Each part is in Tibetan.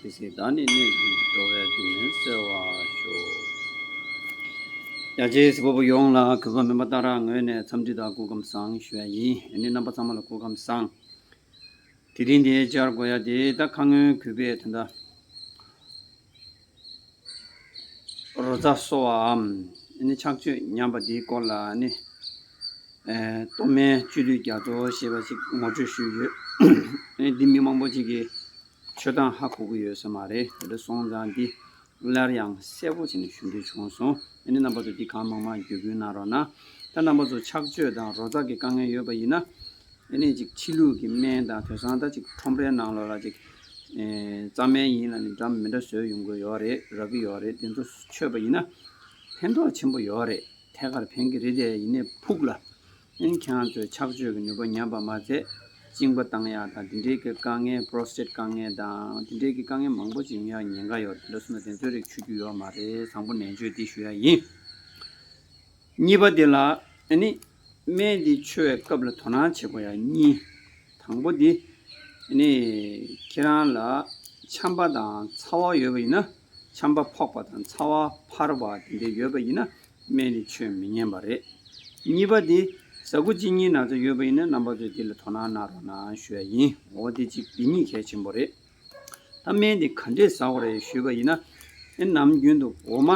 དེ་སྲིད་བདག་ནི་གནས་ཀྱི་འགྲོ་བའི་སྡུག་བསྔལ་སེལ་བར་ཤོག། རྒྱ་ཆེའི་བཟི་བ་པོ་ཡོངས་ལ་གུས་པ་མིན་པ་ལྟར་ངོས་ནས་འཚམས་འདྲི་དང་སྐུ་ཁམས་བཟང་ཞུ་བ་ཡིན། ཡང་ནི་རྣམ་པ་ཚང་མ་ལ་སྐུ་ཁམས་བཟང། དེ་རིང་དེ་བཅར་དགོས་ཡ་དེ་ད་ཁ་སྔོན་གུས་པས་དེ་འདྲ་རོ་རྩ་གསོ་བའམ་ནི་ཕྱག་མཆོད་ཉམས་པ་དེའི་སྐོར་ལ་ནི་གཏོར་མའི་བཅུད་ལུས་རྒྱ་མཚོ་ཞེས་པ་ཞིག་ངོ་སྤྲོད་ཞུས་ཡོད། འདི་མི་མང་པོ་ཅིག་གིས། ཆོས་དང་ཧ་གོ་གི་ཡོད་ས་མ་རེད་ད་དྲི་སོང་ཙང་འདི་སླར་ཡང་གསལ་པོ་བྱེད་ནས་ཞུ་འདོད་བྱུང་སོང་ཨ་ནི་རྣམ་པ་ཚོ་འདི་གང་མང་མང་བརྒྱུད་སྐུལ་གནང་རོགས་གནང་ད་རྣམ་པ་ཚོ་ཆགས་སྤྱོད་དང་རོ་ཙག་གི་དཀའ་ངལ་ཡོད་པ་ཡིན་ན་ཨ་ནི་ཅིག་ཕྱི་ལུགས་ཀྱི་སྨན་དང་དོས་སང་ད་ཅིག་ཁྲོམ་རའི་ནང་ལོག་ལ་ཅིག་རྩ་སྨན་ཡིན་ལ་ནི་འདྲ་མི་འདྲ་བཟོས་ཡོང་གི་ཡོད་རེད་རག་གི་ཡོད་རེད་དེ་ཚོ་ཆོས་པ་ཡིན་ན་ཕན་ཐོག་ཆེན་པོ་ཡོད་རེད་ཐད་ཀར་ཕན་གི་རེད་དེ་ཡིན་ནས་ཕུགས་ལ་སྨན་ཁང་དུ་ཕྱག་བཅོས་ཀྱི་ནུས་པ་ཉམས་པ་མ་ཚད་གཅིན་པ་བཏང་ཡག་དང་དེ་འབྲེལ་གྱི་དཀའ་ངལ Prostate དཀའ་ངལ་དང་དེ་འབྲེལ་གྱི་དཀའ་ངལ་མང་པོ་ཅི་ཡོང་ཡག་ཉེན་ཁ་ཡོད་དེ་འདྲ་སོང་ན་དེ་ཚོའི་རིགས་ཆུད་རྒྱུ་ཡོད་མ་རེད་བཟང་པོ་ནན་བརྗོད་འདི་ཞུ་ཡག་ཡིན། གཉིས་པ་དེ་ལ་ཨ་ནི་སྨན་འདི་འཆུ་བའི་སྐབས་ལ་དོ་སྣང་བྱེད་དགོས་ཡག་གཉིས། དང་པོ་དེ་ཨ་ནི་ཁྱེད་རང་ལ་ཆམ་པ་དང་ཚ་བ་ཡོད་པ་ཡིན་ན་ཆམ་པ་ཕོག་པ་དང་ཚ་བ་འཕར་བ་དེ་འདྲ་ཡོད་པ་ཡིན་ན་སྨན་རིན་ཆོད་མི་ཉན་པ་རེད། གཉིས་པ་དེ། ཟ་རྒོ་གཅིག་གཉིས་ན་ཚ་ཡོད་པ་ཡིན་ན་རྣམ་པ་ཚོས་དེ་ལ་དོ་སྣང་གནང་རོགས་གནང་ཞུ་ཡ་ཡིན། འོ་དེ་གཅིག་དེ་གཉིས་གལ་ཆེན་པོ་རེད། ད་སྨན་དེ་ག་འདྲས་ཟ་འོ་རེད་ཞུས་པ་ཡིན་ན། ཨེ་ནམ་རྒྱུན་དུ་འོ་མ།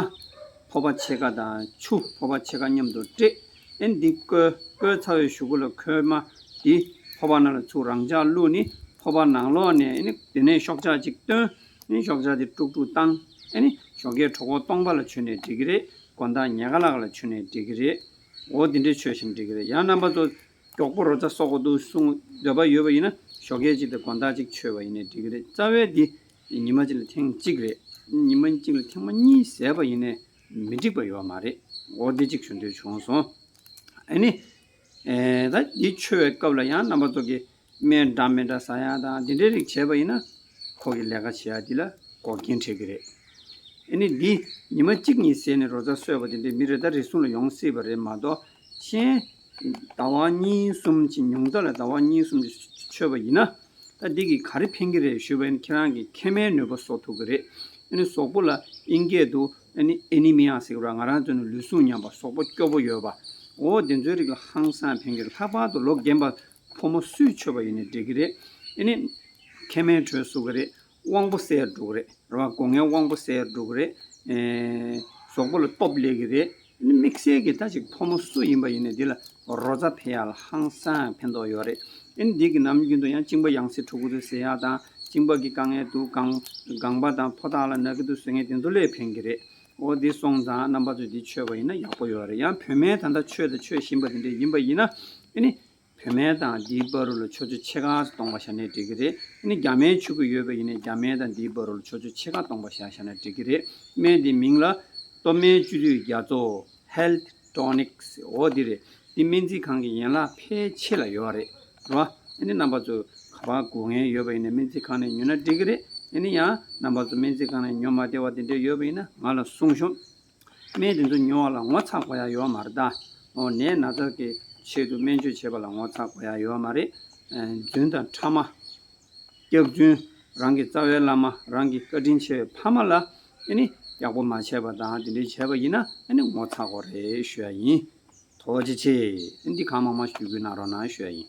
ཕོ་བ་ཕྱེད་ཀ་དང་ཆུ་ཕོ་བ་ཕྱེད་ཀ་མཉམ་དུ་དཀྲེས། ཨེ་འདི་བསྐོལ། བསྐོལ་ཚ་བའི་གཞུག་གུ་ལ་ཁོལ་མ། དེ། ཕོ་བ་ནང་ལ་ཚུགས་རང་འཇགས་བླུགས་ནི། ཕོ་བ་ནང་ལོགས་ནས་ཨེ་ནི་དེ་ནས་ཤོག་ཆག་ཅིག་བཏོན། ནི་ཞོགས་ཇག་དེ་ཀྲུག་ཀྲུག་བཏང། ཨེ་ནི་ཞོགས་ཀའི་གྲོགས་མགོ་སྟོང་པ་ལ་བྱོན་ནས་འདྲི་གི་རེད། མགོ་མདའ་ཉལ་ཁ་ལག་ལ་བྱོན་ནས་འདྲི་གི་རེད། འོ་འདི་འདྲས་བྱོས་ཞེས་འདྲི་གི་རེད་ཡང་རྣམ་པ་ཚོ། མགྱོགས་པོ་རོ་ཙ་གསོག་གོ་འདུག་གསུང་འདོད་པ་ཡོད་པ་ཡིན་ན་ཞོགས་ཀའི་གཅིག་དེ་མགོ་མདའ་གཅིག་བྱོས་པ་ཡིན་ནས་འདྲི་གི་རེད་རྩ་བའི་འདི། ཉི་མ་གཅིག་ལ་ཐེངས་གཅིག་རེད། ཉི་མ་གཅིག་ལ་ཐེངས་མ་གཉིས་ཟེར་བ་ཡིན་ནས་མི་འགྲིག་པ་ཡོད་མ་རེད། འོ་འདི་གཅིག་བྱོས་འདོད་བྱུང་སོང། ཨེ་ནི། ད་འདི་བྱོས་བའི་སྐབས་ལ་ཡང་རྣམ་པ་ཚོ། སྨན་འདྲ་མི་འདྲ་ཟ་ཡག་དང་དེ་འདྲའི་རིགས་བྱས་པ་ཡིན་ན། ཁོ་གི་ལས་ཀ་བྱེད་ཡག་འདི་ལ་འགོག་རྐྱེན་འཕྲད་གི་རེད། ཨེ་ནི་འདི་ཉི་མ་གཅིག་གཉིས་ཟས་ནས་རོ་ཙ་གསོས་པ་དེ་འདྲས་མི་རེ་ད་རེ་ཟུང་ལ་ཡོང་སྲིད་པ་རེད་མ་གཏོགས། གཞན། ཟླ་བ་གཉིས་གསུམ་གྱི་ཉུང་ཙག་ལ་ཟླ་བ་གཉིས་གསུམ་གྱི་ཆོད་པ་ཡིན་ན། ད་འདི་གི་ག་རེ་ཕན་གི་རེད་ཞུས་པ་ཨེ་ནི་ཁྱེད་རང་གི་མཁལ་མའི་ནུས་པ་གསོ་ཐུབ་གི་རེད། ཨེ་ནི་ཟོག་པོ་ལ་ཨིན་སྐད་དུ་ཨེ་ནི Anemia ཟེར་གི་རོ་ང་རང་ཚོ་ནི་ལུས་ཟུངས་ཉམས་པ་ཟོག་པོ་སྐྱོ་པོ་ཡོད་པ། འོ་དེ་ཚོའི་རིགས་ལ་ཧང་སང་ཕན་གི་རེད་ལྷག་པར་དུ་ལོ་རྒན་པ་ཕོ་མོ་སུས་མཆོད་པ་ཡིན་ནི་འགྲིག་གི་རེད། ཨེ་ནི། མཁལ་མའི་དྲོད་བསུ་གི་རེད། དབང་པོ་གསལ་འགྲོ་གི་རེད། རེད་བ། སྒོ་ངའི་དབང་པོ་གསལ་འགྲོ་གི་རེད། ཨེ། ཟོག་པོ་ལ་སྟོབས་ལེགས་གི་རེད། ཨེ་ནི། དམིགས་བསལ་གྱི་ད་ཅིག་ཕོ་མོ་སུ་ཡིན་པ་ཡིན་ནི་འདི་ལ་རོ་རྩ་འཕེལ་ཡག་ལ་ཧང་སངས་ཕན་ཐོགས་ཡོད་རེད། ཨེ་ནི། འདི་གི་ནམ་རྒྱུན་དུ་ཡང་གཅིན་པ་ཡང་སྲིད་ཕྲུ་གུ་ཚོའི་ཟས་ཡག་དང་གཅིན་པ་གི་དཀའ་ངལ་འདུག་གངས། པ་དང་ཕོ་ཐག་ལ་ནག་གི་འདུག་ཟོས་ངན་དེ་ཚོ་ལས་ཕན་གི་རེད། འོ་དེ་སོང་ཙང་རྣམ་པ་ཚོས་དེ་ཆོད་པ་ཡིན་ན་ཡག་པོ་ཡོད་རེད་ཡང་བུད་མེད་ད་ལྟ་ཆོས་དང་ཆོས་བཞིན་པ་དེ་འདྲས་ཡིན་པ་ཡིན་ན་ཨེ་ནི། བུད་མེད་དང་དེའི་སྦ་རུ་ལ་ཆོས་ཆོས་ཕྱེད་ཀ་སྟོང་པ་ཤར་ནས་འགྲིག་གི་རེད་ཨེ་ནི་རྒྱ་མའི་ཆོས་གོས་ཡོད་པ་ཡིན་ནས་རྒྱ་མའི་དང་དེའི་སྦ་རུ་ལ་ཆོས་ཆོས་ཕྱེད་ཀ་སྟོང་པ་ཤར་ཤར་ནས་འགྲིག་གི་རེད་སྨན་དེའི་མིང་ལ། སྟོབས་སྨན་བཅུད་དུས་རྒྱ་མཚོ། Health། Tonics འོ་འདི་རེད། འདི་སྨན་རྩིས་ཁང་གི་ཡན་ལག་ཕལ་ཆེ་ལ་ཡོད་རེད་རོ། ཨ་ནི་རྣམ་པ་ཚོ་ག་པར་སྒུག་ངེས་ཡོད་པ་ཡིན་ན་སྨན་རྩིས་ཁང་ནས་ཉོས་ན་འགྲིག་གི་རེད། ཨ་ནི་ཡང་རྣམ་པ་ཚོ་སྨན་རྩིས་ཁང་ནས་ཉོ་མ་བདེ་བ་དེ་འདྲས་ཡོད་པ་ཡིན་ན་ང་ལ་གསུངས་ཤོག། སྨན་དེ་ཚོ་ཉོ་བ་ལ་ངོ་ཚ་དགོས་ཡ་ཡོད་མ་རེད་ད། འོ་ནད་ན་ཚ་གི་ཆེད་དུ་སྨན་བཅོས་བྱེད་པ་ལ་ངོ་ཚ་དགོས་ཡ་ཡོད་མ་རེད། རྫུན་དང་ཕྲ་མ། སྐྱག་རྫུན། རང་གི་རྩ་བའི་བླ་མ་རང་གི་བཀའ་དྲིན་ཆེ་བའི་ཕ་མ་ལ་ཨེ་ནི་སྐྱག་པོ་མ་བྱས་པ་དང་དེ་འདྲའི་བྱས་པ་ཡིན་ན་ཨེ་ནི་ངོ་ཚ་གོ་རེ་ཞུ་ཡ་ཡིན། དོ་བ་ཅི་ཆེ། ཨེ་འདི་གང་མང་མང་ཞུས་ཁུལ་གནང་རོགས་གནང་ཞུ་ཡ་ཡིན།